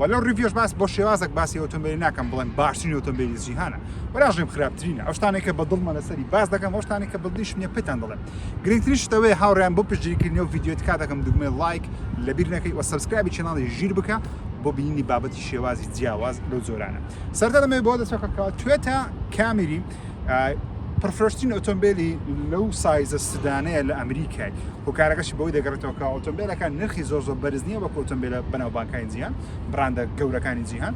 و لەو ڕیڤیۆش باس بۆ شێوازێک باسی ئۆتۆمبیلی ناکەم بڵێم باشترین ئۆتۆمبیلی جیهانە وەراژیم خراپترینە ئەو شتانێک کە بە دڵمە لەسەری باس دەکەم ئەو شتانێک کە بەدڵیش نیە پێتان دەڵێم گرنگترین شتەوەی هاوڕیان بۆ پشتگیریکردنی و ڤیدیۆ تکا دەکەم دوگمەی لایک لەبیر نەکەی و سەبسکرایبی چێناڵی ژیر بکە بۆ بینینی بابەتی شێوازی جیاواز لەو جۆرانە سەرتا دەمەوێت بۆ دەچەکە کەوە توێتە کامیری پڕفرۆشترین ئۆتۆمبیلی لەو سایزە سدانەیە لە ئەمریکای هۆکارەکەشی بەوەی دەگەڕێتەوە کە ئۆتۆمبیلەکان نرخی زۆر زۆر بەرز نییە وەک ئۆتۆمبیلە بەناوبانکانی جیهان براندە گەورەکانی جیهان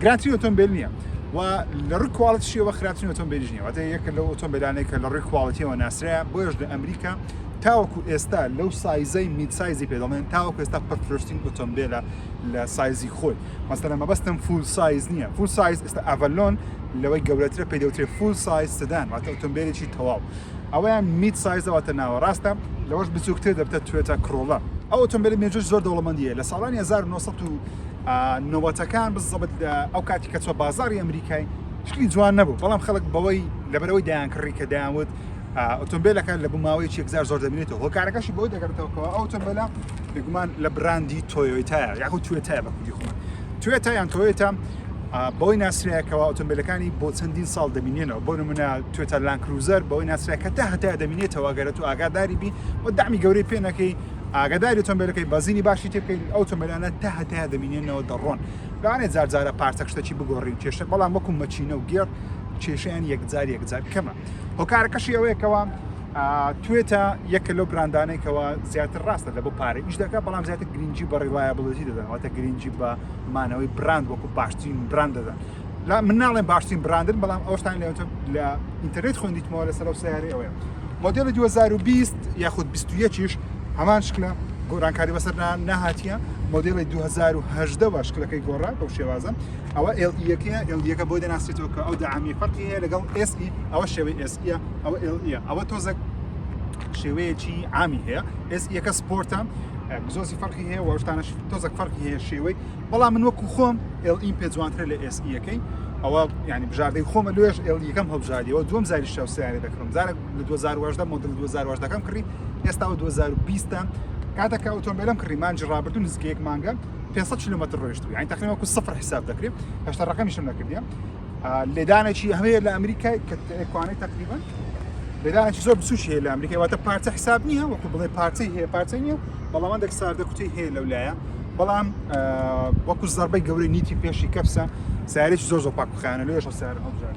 گراتری ئۆتۆمبیل نییە و لە ڕووی کوالتشیەوە خراپترین ئۆتۆمبیلیش نیە واتە یەکە لەو ئۆتۆمبیلانێک کە لە ڕووی کوالتیەوە ناسرەیە بۆیش لە ئەمریکا تاوەکو ئێستا لەو سایزەی میدسایزی پێ دەڵێن تاوەکو ئێستا پڕفرۆشتین ئۆتۆمبیلە لە سایزی خۆی مەسەلەن مەبەستم فول سایز نییە فول سایز ئێستا ئەڤەلۆن لەوەی گەورەترە پێ دەوترێ فول سایز سدان واتە ئۆتۆمبیلێکی تەواو ئەوەیان میت سایزەوەتە ناوەڕاستە لەوەش بچووکتر دەبتە توێتە کڕۆڵە ئەو ئۆتۆمبیلی مێژووی زۆر دەوڵەمەندیە لە ساڵانی 1990ەکان بزەبت لە ئەو کاتی کە چوە بازاری ئەمریکای شکلی جوان نەبوو بەڵام خەڵک بەوەی لەبەرەوەی دەیان کڕی کە دەیانوت ئۆتۆمبێلەکە لە بوو ماوەیەکی یەکجار زۆر دەبینێتەوە هۆکارەکەشی بۆی دەگەڕێتەوە کەەوە ئەو تۆمبیلە بێگومان لە براندی تۆیۆیتایە یاخود توێتایە بە کوردی خۆمان توێتا یان تۆیۆتا بەوەی ناسرایەکەەوە ئۆتۆمبیلەکانی بۆ چەندین ساڵ دەمینێنەوە بۆ نمونە توێتا لان کروزەر بەوەی ناسرایەکە تا هەتا دەمینێتەوە گەرە تو ئاگاداری بی و دامی گەورەی پێنەکەی ئاگداری تۆمبیلەکەی بەزینی باشی تێ بکەین ئەو تۆمبیلانە تا هەتا دەمینێنەوە دەڕۆن لەوانێ جارجارە پارتەکشتەکی بگۆڕین کێشە بەڵام وەکو مەچینە و گێڕ کێشیان یەکجار یەکجار کەمە هۆکارەکەشی ئەوەیە کەوا توێتە یەکە لەو براندانەی کەەوە زیاتر ڕاستە لە بۆ پارە ئیش دەکە بەڵام زیاتر گرنگجی بە ڕیواە بڵێتی دەدەن واتە گرنگجی بە مانەوەی براند وەکو باشترین براند دەدەن لا من ناڵێن باشترین براندن بەڵام ئەوشتان لە لە ئینتەرنێت خوندیتمەوە لەسەر و سیارە ئەوەیە مۆدیلی 2020 یاخود 21یش هەمان شکلە گۆرانکاری بەسەر نەهاتیە مۆدیلی 2010 شکلەکەی گۆڕا بەو شێوازە ئەوە ئێڵ ئیەکەیە ئێڵ یەکە بۆی دەناسرێتەوە کە ئەو دەعامی فەرقی هەیە لەگەڵ ئێس ئی ئەوە شێوەی ئێس ئیە ئەوە ئێڵ ئیە ئەوە تۆزەک شێوەیەکی عامی هەیە ئێس یەکە سپۆرتە زۆزی فەرقی هەیە وەشتانش تۆزەک فەرقی هەیە شێوەی بەڵام من وەکو خۆم ئێڵ ئیم پێ جوانترە لە ئێس یەکەی ئەوە ینی بژاردەی خۆمە لێش ئێڵ یەکەم هەڵبژاریەوە دوم زاری شاو سیارە دەکڕم زارێک لە 2010 مدل 2010ەکەم کڕی ئێستا 2020 کاتەکە ئۆتۆمبیلم کڕی مانجی ڕابردون نزیکەیەک مانگە 500 کیلومتر ڕۆیشتووی یعنی تقریبا وەکو سفر حساب دەکرێت هەشتا ڕقمیشم نەکردیم لێدانێکی هەمەیە لە ئەمریکای کە ئەکوانەی تقریبا لێدانێکی زۆر بچوکی هەیە لە ئەمریکای واتە پارچە حساب نییە وەکو بڵێ پارچەی هەیە پارچە نییە بەڵام دەک ساردە کوتی هەیە لەو لایە بەڵام وەکو زەربەی گەورەی نیتی پێشی کەپسە سارێکی زۆر زۆر پاکخانە لێش سار ئەوجار.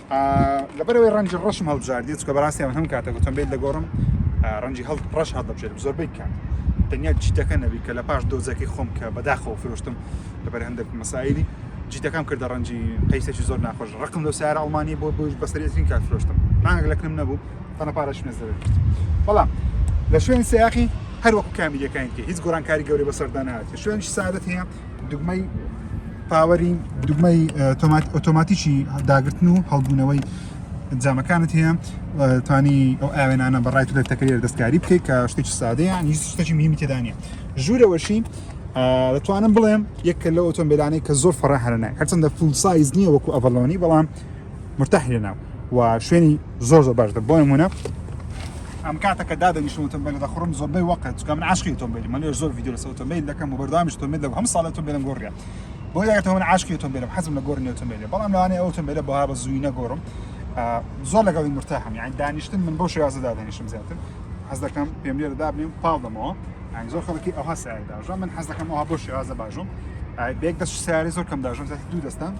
لەبەرئەوەی ڕەنجی ڕەشم هەڵبژاردی چکە بەڕاستی من هەم کاتە گوتم بێت دەگۆڕم ڕەنجی هەڵ ڕەش هەڵدەبژێرم زۆربەی کات تەنیا جیتەکە نەبی کە لە پاش دۆزەکەی خۆم کە بەداخەوە فرۆشتم لەبەر هەندێک مەسایلی جیتەکەم کردە ڕەنجی قەیسێکی زۆر ناخۆش ڕقم لەو سارە ئەڵمانی بۆ بۆش بەسەرێترین کات فرۆشتم مانگێک لە کنم نەبوو تەنە پارەش نێز دەبێت بەڵام لە شوێن سیاقی هەروەکو کامیریەکانی تێ هیچ گۆرانکاری گەوری بەسەردانات شوێنی سادت هەیە دوگمەی پاوەری دوگمەی ئۆتۆماتیکی داگرتن و هەڵبوونەوەی جامەکانت هەیە توانی ئەو ئاوێنانە بەڕای تو دەتەکرێت دەستکاری بکەیت کە شتێکی سادەیە هیچ شتێکی میمی تێدانە ژوورەوەشی دەتوانم بڵێم یەکە لە ئۆتۆمبیلانەی کە زۆر فڕە هەرنای هەرچەندە فول سایز نییە وەکو ئەڤلۆنی بەڵام مرتاح لێناو و شوێنی زۆر زۆر باشتر بۆ نمونە ئەم کاتە کە دادەنیشتم ئۆتۆمبیل دەخڕم زۆربەی وەقت چکە من عاشقی ئۆتۆمبیل من لێ زۆر ڤیدیۆ لەسەر ئۆتۆمبیل دەکەم و بەردەوامیش ئۆتۆمبیل دەکەم هەم ساڵ ئۆتۆمبیلم گۆڕیە بۆ یەکەوە من عاشقی ئۆتۆمبیلم حەزم لە گۆڕنی ئۆتۆمبیلە بەڵام لەوانەیە ئەو ئۆتۆمبیلە بەها بە زووی نەگۆڕم زۆر لەگەڵی مرتاحم یان دانیشتن من بۆ شێوازە دادەنیشتم زیاتر حەز دەکەم پێم لێرە دابنێم پاڵ دەمەوە ئەنگ زۆر خەڵکی ئەوها سایداژە من حەز دەکەم ئەوها بۆ شێوازە باژم بێک دەست سیاری زۆر کەم داژم زیاتر دوو دەستان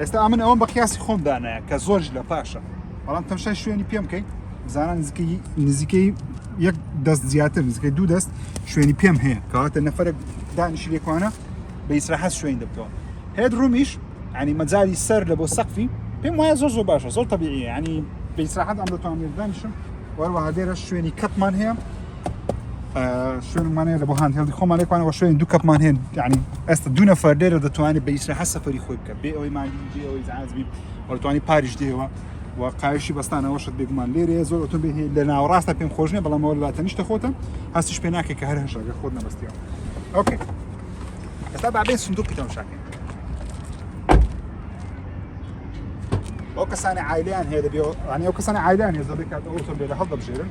ئێستا ئەمن ئەوەم بە قیاسی خۆم دانایە کە زۆرش لە پاشە بەڵام تەمشای شوێنی پێم بکەین بزانە نزیکەی نزیکەی یەک دەست زیاتر نزیکەی دوو دەست شوێنی پێم هەیە کەواتە نەفرە دانیشی لێکوانە بە ئیسراحەت شوێن دەبتەوە هێت ڕومیش ینی مەجای سەر لە بۆ سەقفی پێم وایە زۆر زۆر باشە زۆر طبیعی ینی بە ئیسراحەت ئەم دەتوانێت دانیشم وەروەها لێرە شوێنی کەپمان هەیە شوێنمان هەیە لە بۆ هاند هێڵی خۆمان لێکوانە وە شوێن دوو کەپمان هێن ینی ئێستا دوو نەفەر لێرە دەتوانێت بە ئیسراحە سەفری خۆی بکە بێ ئەوەی مالی بێ ئەوەی زعازبی وەتوانی پاریش دێەوە و قایشی بەستانەوە شت بێگومان لێرەیە زۆر ئۆتۆ بێ لە ناوەڕاستە پێم خۆشنێ بەڵامەوە لە تەنیشتە خۆتە هەستیش پێ ناکەێت کە هەر هەشەگە خۆت نەبستیەوە ئۆکێ ئێستا بابێ سندوقی تەمشاکەین ئەو کەسانی عیلیان هەیە دەبێ ئەو کەسانی عیلیان هێز دەبێت کات ئەو تۆ لێرە هەڵدەبژێرن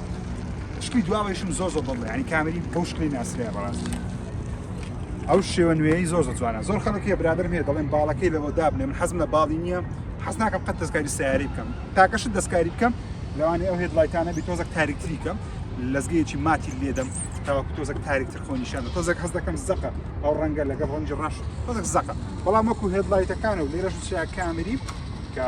شتی دواوەیشم زۆر زۆر بڵێ ینی کامری بۆ شکلی ناسرە بەڕاستی ئەو شێوە نوێی زۆر زۆر جوانە زۆر خەڵکی برادر مێ دەڵێن باڵەکەی لەوە دابنێ من حەزم لە باڵی نییە حەز ناکەم قەت دەستکاری سیاری بکەم تاکەش دەستکاری بکەم لەوانی ئەو هێت لایتانە بی تۆزەک تاریکتری کەم لەزگەیەکی ماتی لێدەم تاوەکو تۆزەک تاریکتر خۆنیشانە تۆزەک هەز دەکەم زەقە ئەو ڕەنگە لەگەڵ ڕەنجی ڕەش تۆزەک زەقە بەڵام وەکو هێت لایتەکانە و لێرەش چیا کامری کە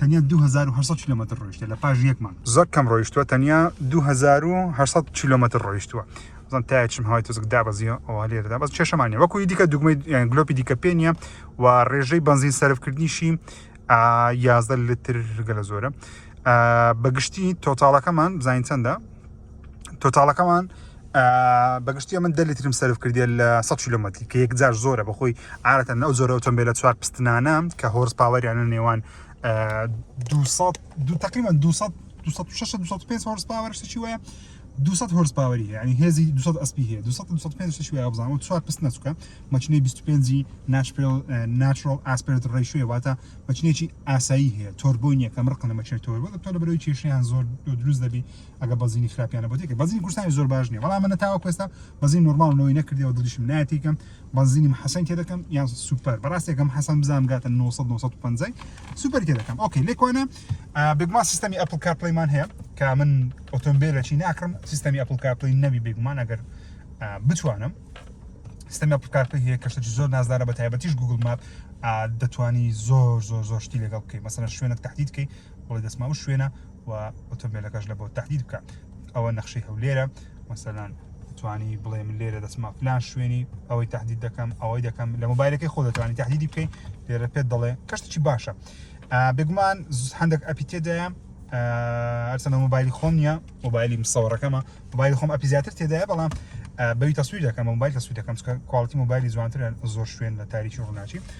تەنیا دوو هەزار و هەشت سەد کیلۆمەتر ڕۆیشتە لە پاش یەک مانگ. زۆر کەم ڕۆیشتووە تەنیا دوو هەزار و هەشت سەد کیلۆمەتر ڕۆیشتووە. بزن تا چم هاوای تۆزک دابەزیە ئەوە لێرەدا بەس چێشەمانە وەکوی دیکە دوگمەی یان گلۆپی دیکە پێ نییە و ڕێژەی بەنزین سەرفکردنیشی یازدە لتر گەلە زۆرە بەگشتی تۆتاڵەکەمان بزانین چەندە تۆتاڵەکەمان بەگشتی ئەمن دە لیترم سەرف کردیە لە 100 کیلومتری کە یەکجار زۆرە بەخۆی عادەتەن ئەو زۆرە ئۆتۆمبیلە چوار پستنانە کە هۆرس پاوەریانە نێوان 200 دو تقریبا 200 265 هۆرس پاوەر شتێکی وایە 200 هۆرس پاوەری یعنی هێزی 200 ئەسپی هەیە 200 205 شتێکی وایە بزانم چوار پست نەچووکە مەچنەی 25 ناشپێل ناترۆڵ ئاسپێرت ڕیشوێ واتە مەچنێکی ئاسایی هەیە تۆربۆی نییە کە مڕقنە مەچێت تۆربۆ دەتۆ لە بەرەوەی کێشیان زۆر دروست دەبی ئەگەر بەزینی خراپیانە بۆ دەکە بەزین کوردستانی زۆر باش نیە بەڵام منە تاوەکو ئێستا بەزین نورماڵ نەوەی نەکردەوە دڵیشم ناتیکەم بەزینی محەسەن تێ دەکەم یان سوپەر بەڕاستێکم حەسەن بزانم گاتە 900 950 سوپەر تێ دەکەم ئۆکەی لێکوانە بگمان سیستەمی ئەپل کارپلیمان هەیە کە من ئۆتۆمبیلەکی ناکڕم سیستەمی ئەپل کارپلی نەبی بێگومان ئەگەر بتوانم سیستەمی ئەپل کارپلی هەیە کەشتێکی زۆر نازدارە بە تایبەتیش گوگل ماپ دەتوانی زۆر زۆر زۆر شتی لەگەڵ بکەیت مەسەن شوێنێک تهدیدکەی بڵێ دەچمە ئەو شوێنە و ئۆتۆمبیلەکەش لە بۆ تهدید بکە ئەوە نەخشەی هەولێرە مەسەلان توانی بڵێ من لێرە دەچمە فلان شوێنی ئەوەی تهدید دەکەم ئەوەی دەکەم لە مۆبایلەکەی خۆ دەتوانانی تهدیدی بکەین لێرە پێت دەڵێ کەشتێکی باشە بێگومان هەندێک ئەپی تێدایە ئەرسەنە مۆبایلی خۆم نیە مۆبایلی مسەوەڕەکەمە مۆبایل خۆم ئەپی زیاتر تێدایە بەڵام بەوی تەسویر دەکەم مۆبایل تەسویر دەکەم کوالتی مۆبایلی جوانترە زۆر شوێن لە تاریکی ڕووناچی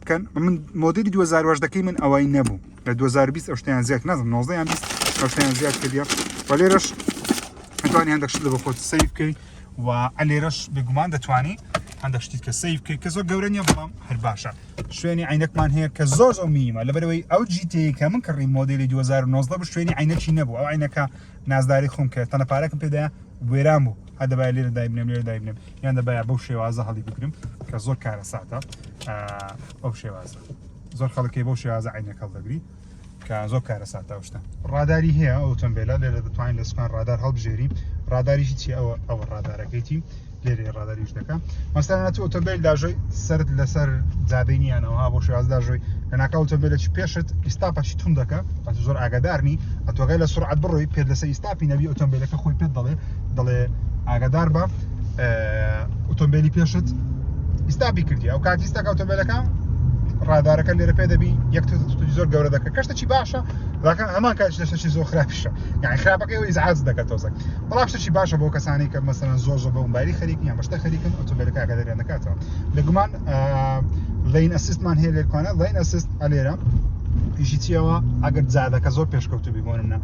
بکەن من مۆدلی 2010ەکەی من ئەوەی نەبوو لە 2020 ئەوشتیان زیاد نازم 19یان ئەوشتیان زیاد کردە و لێرەش ئەتوانی هەندێک شت لە بە خۆت سەیر بکەی و ئەلێرەش بێگومان دەتوانی هەندێک شتی کە سەیر بکەیت کە زۆر گەورە نیە بەڵام هەر باشە شوێنی عینەکمان هەیە کە زۆر زۆر میمە لەبەرەوەی ئەو جیتەیە کە من کڕی مۆدلی 2009 بە شوێنی عینەکی نەبوو ئەو عینەکە نازداری خۆم کرد تەنە پارەکەم پێدا وێران بوو هەدەبای لێرە دایبنم لێرە دایبنم یان دەبایە بەو شێوازە هەڵی بگرم کە زۆر کارە ساتە ئەو شێوازە زۆر خەڵکی بەو شێوازە عینەکەڵ دەگری کە زۆر کارە ساتە شتە ڕاداری هەیە ئەو تەمبێلە لێرە دەتوانین لە سوپان ڕادار هەڵبژێری ڕاداریشی چی ئەوە ئەوە ڕادارەکەیتی لێرێ ڕاداریش دەکە مەسەرە تۆ ئۆتۆمبیل داژۆی سرد لەسەر جادەینیانەوە بۆ شێواز داژۆی لەناکە ئۆتۆمبیلەی پێشت ئیستا پەشی تون دەکە زۆر ئاگادارنی ئەتۆگەی لە سرعات بڕۆی پێ لەسەر ئیستاپی نەبی ئۆتۆمبیلەکە خۆی پێت دەڵێ دەڵێ ئاگادار بە ئۆتۆمبیلی پێشت ئیستا بیکردی ئەو کاتی ئیستا ئۆتۆمبیلەکان ڕادارەکە لێرە پێ دەبی یەک زۆر گەورە دەکە کەشتە چی باشە لاکە هەمان کات دەشتەچی زۆر خراپیشە یعنی خراپەکە ئەو ئیزعاج دەکات تۆزەک بەڵام شتەچی باشە بۆ کەسانی کە مەسەرەن زۆر زۆر بەمباری خەریکیان بەشتە خەریکن ئۆتۆمبیلەکە کە دەریان دەکاتەوە لەگومان لین ئەسیستمان هەیە لێرکانە لین ئەسیست ئەلێرە پیشی چیەوە ئەگەر جادەکە زۆر پێشکەوتو بیگۆنمە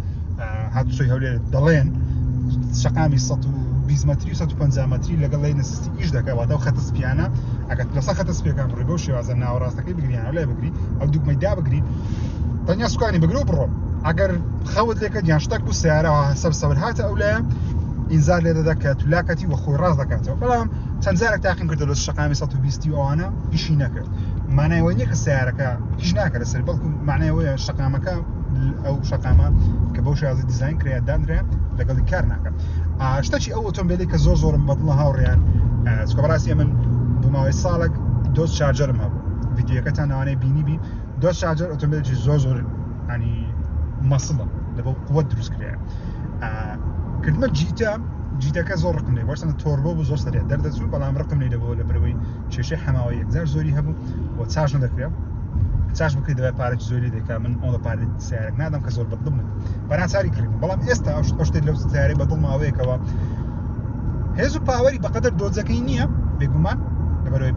هاتوچۆی هەولێر دەڵێن شقامی 120 متری 150 متری لەگەڵ لای نسیستی ئیش دەکەواتەوە خەتە سپیانە ئەگەر لەسە خەتە سپیەکان بڕی بەو شێوازە ناوەڕاستەکەی بگریان لای بگری ئەو دوکمەدا بگری تەنیا سوکانی بگرە و بڕۆ ئەگەر خەوت لێکە دیان شتەک و سیارەوە هەسەر سەور هاتە ئەو لایە ئینزار لێ دەدە کە تولاکەتی وە خۆی ڕاست دەکاتەوە بەڵام چەند جارێک تاقیم کردو لە شەقامی سەد و بیست و ئەوانە ئیشی نەکرد مانای ئەوەی نییە کە سەیارەکە ئیش ناکە لەسەر بەڵکو مانای ئەوەیە شەقامەکە ئەو شەقامە کە بەو شازی دیزاین کرێت دانرێ لەگەڵی کار ناکەم ئاشتەچی ئەو ئۆتۆمبیلی کە زۆر زۆرم بەدڵە هاوڕیان چکە بەڕاستی من بۆ ماوەی ساڵێک دۆست چارجەرم هەبوو ڤیدیوەکەتان ئەوانەی بینی بی دۆج شارجەر ئۆتۆمبیلێکی زۆر زۆر ینی مەسڵە لەبەو قووە دروست کرێ کردمە جیتە جیتەکە زۆر ڕقم لێ بەرسەن تۆربە بوو زۆر سەرێت دەردەچوو بەڵام ڕقم لێ دەبەوە لە برەوەی کێشە حەماوە یەکجار زۆری هەبوو و چاش نەدەکرێت چاش بکرێت دەبێت پارێکی زۆری دەکا من ئەو لە پارێت سیارێک نادەم کە زۆر بەدڵم بەناچاری کرد بەڵام ئێستا ئەو شتێک لەو سیارەی بەدڵماوەیەکەوە هێز و پاوەری بەقەدەر دۆزەکەی نییە بێگومان لەبەرەوەی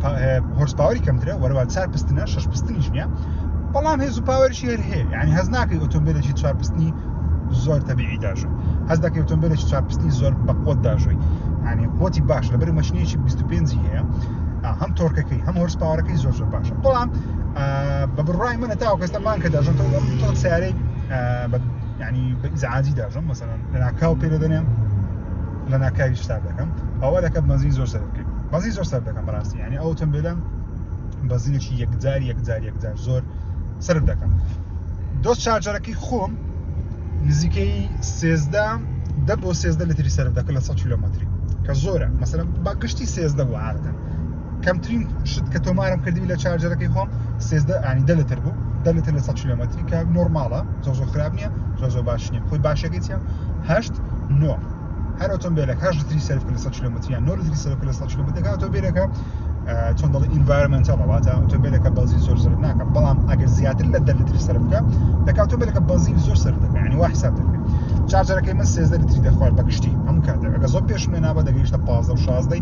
هۆرس پاوەری کەمترە وەرەوە چار پستنە شش پستنیش نییە بەڵام هێز و پاوەرشی هەر هەیە ینی هەز ناکەی ئۆتۆمبیلێکی چار پستنی زۆر تەبیعی داژە هەز دەکەی ئۆتۆمبیلێکی چار پستنی زۆر بەقۆت داژۆی ینی قوتی باش لەبەر مەشنیەکی 25 هەیە هەم تۆرکەکەی هەم هۆرس پاوەەکەی زۆر زۆر باشە بەڵام بە بڕای منە تاوکەستەمان کە داژن سیارەی یعنی بە ئیزعاجی داژم مەسەلەن لەناکاو پێ دەدەنێم لە ناکاوی شتاب دەکەم ئەوە دەکە بەنزین زۆر سەر بکەین بەزی زۆر سەر دەکەم بەڕاستی یعنی ئەو تەمبێلم بەزینێکی یەکجار یەکجار یەکجار زۆر سەر دەکەم دۆست چارجەرەکەی خۆم نزیکەی سێزدە دە بۆ سێزدە لەتری سەر دەکە لە 100 کیلومتری کە زۆرە مەسەرم بە گشتی سێزدە بۆ عادەتەن کەمترین شت کە تۆمارم کردی لە چارجەرەکەی خۆم سێزدە ئانی دە لەتر بوو دە لەتر لە سە کیلومتری کە نۆرماڵە زۆزۆ خراپ نییە زۆزۆ باش نیە خۆی باشەکەی چە هەشت نۆ هەر ئۆتۆمبیلە هەش لەتری سەرف لە سە کیلومتریان نۆ لەتری سەرف لە سە کیلومترەکە ئۆتۆمبیلەکە چۆن دەڵی ئینڤایرمنتەڵە واتە ئۆتۆمبیلەکە بەزی زۆر زۆر ناکە بەڵام ئەگەر زیاتر لە دە لەتری سەرف بکە دەکات ئۆتۆمبیلەکە بەزی زۆر سەر دەکەیانی وا حساب دەکەێت چارجەرەکەی من سێزدە لەتری دەخوارد بەگشتی هەم کاتەکە زۆر پێشمێ نابە دەگەیشتە پازە و شازدەی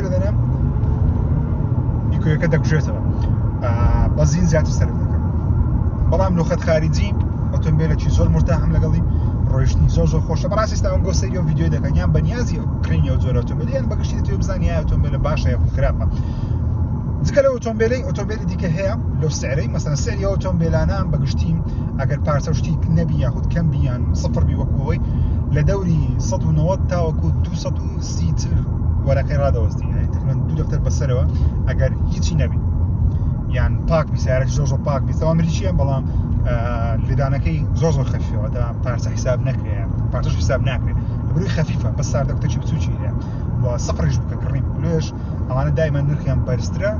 دەدەنم نیکۆیەکە دەکوژێتەوە بەزین زیاتر سەرف دەکەم بەڵام لوخەت خارجی ئۆتۆمبیلێکی زۆر مرتاحم لەگەڵی ڕۆیشتنی زۆر زۆر خۆشە بەڕاستی ئێستاوم بۆ سەری و ڤیددیو دەکەن یان بەنیازی کڕینی و زۆر ئۆتۆمبیلیان بەگشتی تێ بزانانی یا ئۆتۆمبیلە باشە یا خراپە جگە لە ئۆتۆمبیلی ئۆتۆمبیلی دیکە هەیە لەو سعرەی مەسەن سەری ئۆتۆمبیلانە بەگشتیم ئەگەر پارچە و شتیک نەبی یاخود کەم بیان سفر بی وەکوەوەی لە دەوری 1990 تاوەکو 200 سیتر وەرەقەی ڕادەوەستی یعنی تقریبا دوو دەفتەر بەسەرەوە ئەگەر هیچی نەبی یان پاک بی سیارەکە زۆر زۆر پاک بی تەوا مریشیە بەڵام لێدانەکەی زۆر زۆر خەفیەوە تا پارچە حساب نەکرێ پارچەش حساب ناکرێت بروی خەفیفە بە ساردە کوتەچی بچوکی هەیە و سەقڕیش بکە کڕین لێش ئەوانە دایمە نرخیان بەرزترە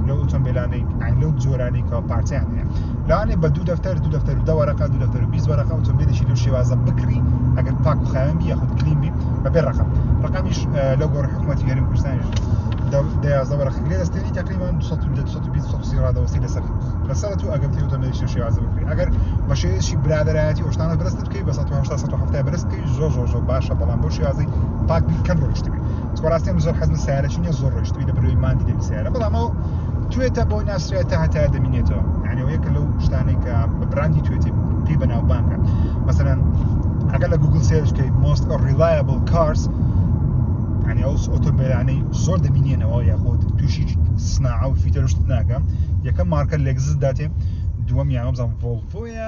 لە ئۆتۆمبیلانەی لەو جۆرانی کە پارچیان هەیە لەوانێ بە دوو دەفتەر دوو دەفتەر و دەوەرەقە دوو دەفتەر و بیست وەرەقە ئۆتۆمبیلێکی لەو شێوازە بکڕی ئەگەر پاک و خاوێن بی یاخود کلین بی بەبێ ڕقم ڕقمیش لەو گۆڕ حکوومەتی هەرێم کوردستانیش دەیازدە وەرەقە لێ دەستێنی تقریبان 220 ڕادەوەسی لەسەر لەسەر تو ئەگەر تێوتە مێشە شێوازە بکری ئەگەر بە شێوێکی برادایەتی ئۆشتانە بەرزتر بکەی بە 1970 سەد و حەفتا بەرز بکەی زۆر زۆر زۆر باشە بەڵام بۆ شێوازی پاک بیر کەم ڕۆیشتبی چوەڕاستیم زۆر حەز لە سیارە چینە زۆر ڕۆیشتبی لە بەروی ماندی دەبی سیارە بەڵام ئەو توێتە بۆ ناسرێت تا هەتا دەمینێتەوە یعنی ئەو یەکە لەو شتانەی کە بە براندی توێتی پێی بەناوبانگە مثلا ئەگە لە گوگل سێرش کەی most reliable cars ینی ئەو ئۆتۆمبیلانەی زۆر دەمینێنەوە یاخود تووشی سناعە و فیتەرشت ناکەم یەکەم مارکە لەگزت داتێ دووەم یانەبزان ڤۆڵفۆیە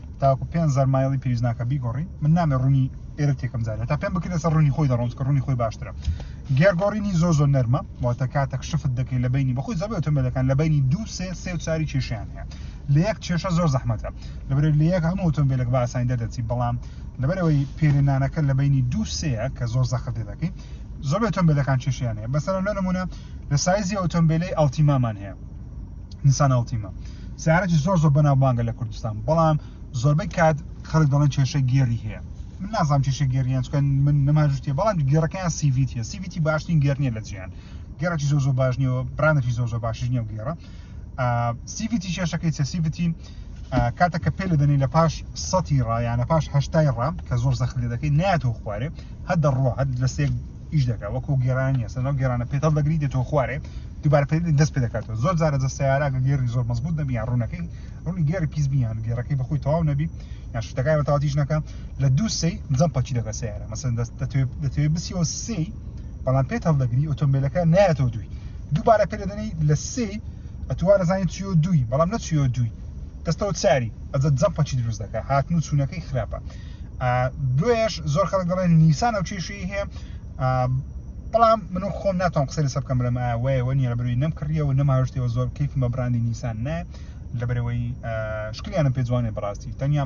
تاوەکو پێنج زار مایڵی پێویست ناکە بیگۆڕی من نامێ ڕوونی ئێرە تێکم زانێت تا پێم بکرێت سەر ڕوونی خۆی دەڕۆم کە ڕوونی خۆی باشترە گێرگۆڕینی زۆ زۆ نەرمە واتە کاتێک شفت دەکەی لە بینی بەخۆی زەبێ ئۆتۆمبیلەکان لە بینی دوو سێ سێ و چاری کێشیان هەیە لە یەک کێشە زۆر زەحمەتە لەبەر لە یەک هەموو ئۆتۆمبیلێک بە ئاسانی دەردەچی بەڵام لەبەرەوەی پێرێنانەکە لە بینی دوو سەیە کە زۆر زەخت لێ دەکەی زۆر ئۆتۆمبیلەکان کێشیان هەیە بەسەر لە نمونە لە سایزی ئۆتۆمبیلی ئەڵتیمامان هەیە نیسان ئەڵتیما سیارەکی زۆر زۆر بەناوبانگە لە کوردستان بەڵام زۆربەی کات خەڵک دەڵێن کێشە گێری هەیە من نازانم کێشە گێریان چکەن من نەماژشتێ بەڵام گێڕەکەیان سیڤیتە سیڤیتی باشترین گێرنیە لە جیان گێڕێکی زۆر زۆر باش نیەوە برانێکی زۆر زۆر باشش نیە و گێڕە سیڤیتی کێشەکەی چە سیڤیتی کاتە کە پێ لە دەنی لە پاش سەتی ڕایانە پاش هەشتای ڕام کە زۆر زەخت لێ دەکەی ناتۆ خوارێ هەر دەڕوە هەر لە سێک ئیش دەکات وەکو گێرانی هەسە ناو گێرانە پێتەڵ دەگری دێتەوە خوارێ دوبار پێ دەست پێ دەکاتەوە زۆر جارە جە سیارەکە گێری زۆر مەزبوط نەبی یان ڕوونەکەی ڕوونی گێری پیس بیان گێرەکەی بەخۆی تەواو نەبی یان شتەکای بە تاوتیش نەکە لە دوو سی جەم پەچی دەکە سیارە مەسەن دەست دەتوێ بسیەوە سی بەڵام پێت هەڵدەگری ئۆتۆمبیلەکە نایەتەوە دوی دووبارە پێ دەدەنی لە سی ئەتوارە زانانی چیۆ دوی بەڵام نەچیۆ دوی دەستەوە چاری ئەجە جەم پەچی دروست دەکە هاتن و چوونەکەی خراپە دوێش زۆر خەڵک دەڵێن نیسان ئەو کێشەی هەیە بەڵام من خۆم ناتوان قسە لەسەر بکەم بڵێم وایەوە نیە لەبروی نەم کڕیەوە نەماوشتەوە زۆر کەیف مە برانی نیسان نە لەبەرەوەی شکلیانم پێ جوانێ بڕاستی تەنیا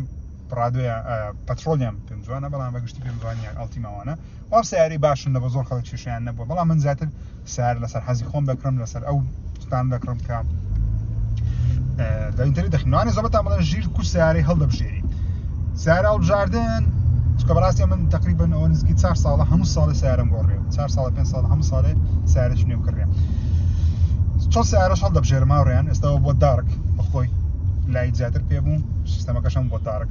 پڕادۆیان پەترۆلیان پێم جوانە بەڵام بەگشتی پێم جوانیان ئەڵتی ماوانە ئەو سەیارەی باشن لە بە زۆر خەڵک کێشەیان نەبووە بەڵام من زیاتر سیار لەسەر حەزی خۆم دەکڕم لەسەر ئەو ستان دەکڕم کە دەینتری دەخنوانێ زەبەتان بڵێن ژیر کو سیارەی هەڵدەبژێری سیارە هەڵبژاردن چکە بەڕاستی من تقریبن ئەو نزیکی چار ساڵە هەموو ساڵی سیارم گۆڕێ چار ساڵ پێ ساڵ هەموو ساڵێ سیارش نێو کڕێ چۆ سیارەش هەڵدەبژێرماڕێن ئێستا بۆ دارک بەخۆی لای زیاتر پێ بوو سیستەمەکەشم بۆ دارک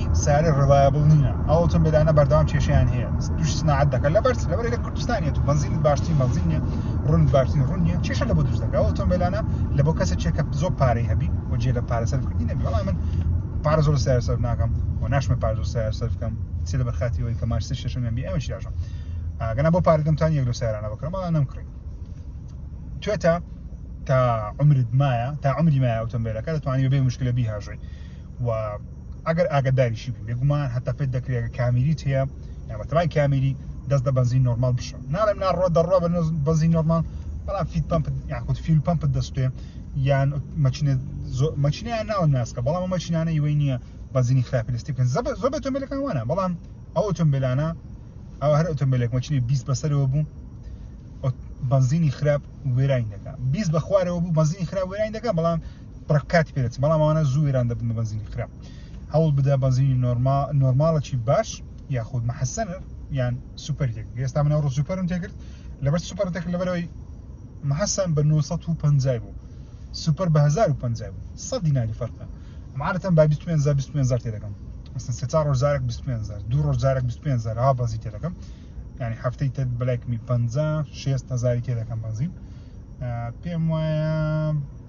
سیارە ڕلایەبڵ نینە ئەوتم بێدانە بەردەوام کێشیان هەیە دوش سناعەت دەکە لە بەرز لەبەر لە کوردستانیت و بەنزین باشترین بەنزینە ڕون باشترین ڕونیە کێشە لە بۆ دروست دەکە ئۆتۆمبیلانە لە بۆ کەسە چێکە زۆر پارەی هەبی و جێ لە پارە سەرکردنی نەبی وڵام من پارە زۆر سیار سەر ناکەم و ناشمە پار زۆر سیار سەر بکەم چی لە بەرخاتی ئەوی کە ماش شەشم بی ئەمە شیاژم ئەگەنا بۆ پارەدەمتان یەک لە سیارانە بکەم بەڵام نەم کڕی توێتە تا عمرت مایە تا عمری مایە ئۆتۆمبیلەکە دەتوانانی بێ مشکلە بیهاژی و ئەگەر ئاگەداریشی بی بێگومان هەتا پێت دەکرێت کە کامیریت هەیە یامەتەبان کامیری دەست دە بەنزین نۆرمال بشە ناڵێم ناڕۆ دەڕۆ بە بەنزین نۆرمال بەڵام فیت پمپ یاخود فیل پمپ دەستێ یان مەچینە مەچینیان ناوە ناسکە بەڵام مەچینانە یوەی نییە بەزینی خراپی لەستی بکەن زەبە زۆر ئۆتۆمبیلەکان وانە بەڵام ئەو ئۆتۆمبیلانە ئەو هەر ئۆتۆمبیلێک مەچینی 20 بەسەرەوە بوو بەنزینی خراپ وێرانی دەکە 20 بەخوارەوە بوو بەنزینی خراپ وێرانی دەکە بەڵام بڕێک کاتی پێ دەچێت بەڵام ئەوانە زوو وێران دەبن بە بەنزینی خراپ هەوڵ بدە بەنزینی نۆرما نۆرماڵەکی باش یاخود محەسەنر یان سوپەر تێک ئێستا من ئەوڕۆ سوپەرم تێکرد لەبەر سوپەر تێک لەبەرەوەی محەسەن بە 950 بوو سوپەر بە 1050 بوو سە دیناری فەرقە عادەتەن با 25 زار 25 زار تێ دەکەم مثلا سێ چهار ڕۆژ جارێک 25 زار دوو ڕۆژ جارێک 25 زار ها بەنزین تێ دەکەم یعنی هەفتەی تر بلایکمی 50 6 هزاری تێ دەکەم بەنزین پێم وایە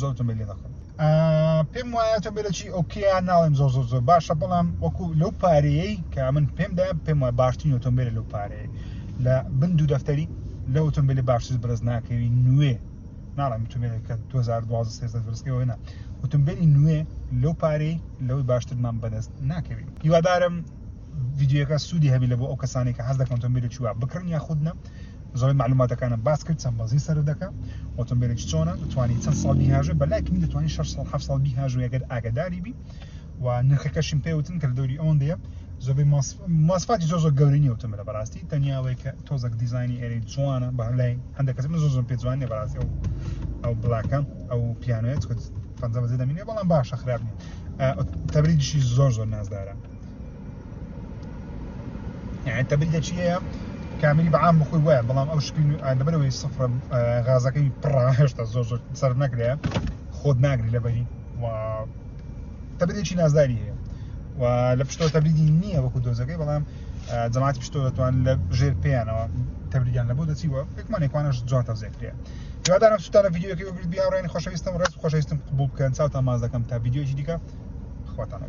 زۆر ئۆتۆمبیل لێ دەکڕم پێم وایە ئۆتۆمبیلێکی ئۆکیە ناڵێم زۆر زۆر زۆر باشە بەڵام وەکو لەو پارەیەی کە من پێمدا پێم وایە باشترین ئۆتۆمبیل لەو پارەیە لە بن دوو دەفتەری لە ئۆتۆمبیلی باشتر بەرز ناکەوی نوێ ناڵێم ئۆتۆمبیل کە 2012 دەستکەوە نە ئۆتۆمبیلی نوێ لەو پارەی لەوەی باشترمان بەدەست ناکەوی هیوادارم ڤیدیۆکە سوودی هەبی لە بۆ ئەو کەسانی کە حەز دەکەن ئۆتۆمبیلێکی وا بکڕن یا خودنە زۆری معلوماتەکانم باس کرد چەند بەزی سەر دەکە ئۆتۆمبیلێکی چۆنە دەتوانانی چەند ساڵ بیهاژێ بە لایکمی دەتوانانی 6 ساڵ ه ساڵ بیهاژو یەگەر ئاگداری بی و نرخەکەشم پێوتن کە دەوری ئەوەن دەیە زۆبی ماسفاتی زۆ زۆ گەورنی ئۆتۆمبیل لە بەڕاستی تەنیاوەی کە تۆزەک دیزانی ئێری جوانە بە لای هەندێک کەس من زۆ زۆم پێ جوانێ بەڕاستی ئەو ئەو بڵاکە ئەو پیانوێت کە پەنجە بەزی دەمینێ بەڵام باشە خراپ نیە تەبریدیشی زۆر زۆر نازدارە يعني انت بدك شيء کامری بە عام بخۆی وایە بەڵام ئەو شپین لەبەرەوەی سفرە غازەکەی پڕا هێشتا زۆر زۆر سەر نەکرێ خۆت ناگری لەبەری و تەبرێکی نازداری هەیە و لە پشتۆ تەبریدی نییە وەکو دۆزەکەی بەڵام جەماعات پشتۆ دەتوان لە ژێر پێیانەوە تەبریان لە بۆ دەچی و ئەکمانێکوانش جوان تەزێکرێ دوادارم سوتانە یددیوەکەی بگرت بیاڕێن خۆشەویستم ڕێز خۆشەویستم قبول بکەن چاوتان ماز دەکەم تا یددیوەکی دیکە خواتانەگە